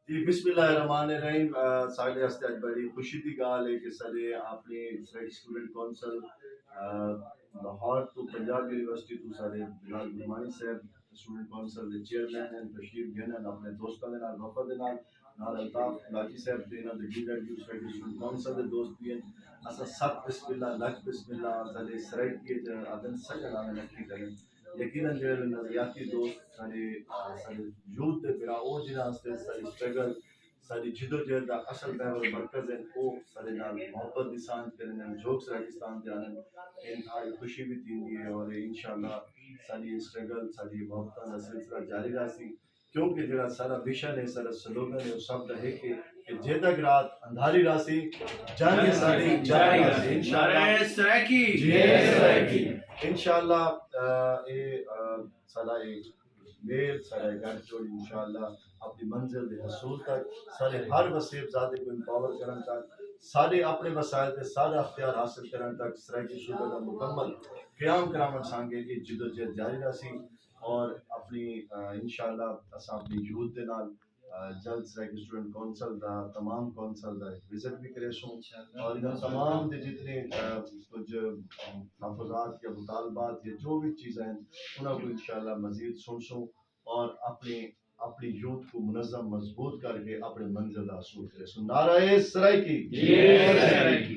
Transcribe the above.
جی بسم اللہ الرحمن الرحیم سارے واسطے اج بڑی خوشی دی گال ہے کہ سارے اپنے سارے اسٹوڈنٹ کونسل لاہور تو پنجاب یونیورسٹی تو سارے جناب گرمانی صاحب اسٹوڈنٹ کونسل دے چیئرمین ہیں تشریف گن ہیں اپنے دوستاں دے نال وفد دے نال نال الطاف لاجی صاحب دے نال دگی لڑ گی سارے اسٹوڈنٹ کونسل دے دوست بھی ہیں اسا سب بسم اللہ لکھ بسم اللہ سارے سرائیکی ادن سجن آنے لکھی کریں یقینا جیڑھے نظریاتی دوست ساڈے ساڈے یوتھ دے بھرا او جنہاں واسطے ساڈی سٹرگل ساڈی جدوجہد دا اصل محور مرکز ہن او ساڈے نال محبت دی سانجھ کرن ہن جھوک سرائیکستان تے آندن اے انتہائی خوشی وی تھیندی ہے اور انشاءاللہ ساڈی اے سٹرگل ساڈی اے محبتاں دا سلسلہ جاری راہسی۔ کیونکہ جیڑھا ساڈا مشن ہے، ساڈا سلوگن ہے او سب دا ہک ہے کہ جے تک رات اندھاری راہسی جنگ اساڈی جاری راہسی انشاءاللہ۔ نعرہ سرائیکی۔ جے سرائیکی۔ انشاءاللہ اے ساڈا اے میل ساڈا اے گٹھ جوڑ انشاءاللہ اپنی منزل دے حصول تک ساڈے ہر وسیب زادے کوں امپاور کرݨ تک ساڈے اپنے وسائل تے ساڈا اختیار حاصل کرݨ تک سرائیکی صوبہ دا مکمل قیام کراوݨ سانگے اے جدوجہد جاری راہسی۔ اور اپنی انشاءاللہ اساں اپنی یوتھ دے نال جلد سیک اسٹوڈنٹ کونسل دا تمام کونسل دا وزٹ بھی کرے سوں اور انہاں تمام دے جتنے کچھ تحفظات یا مطالبات یا جو بھی چیزیں ہیں انہاں کو انشاءاللہ مزید سن سوں اور اپنی اپنی یوتھ کو منظم مضبوط کر کے اپنے منزل دا حصول کرے سوں نعرہ سرائے کی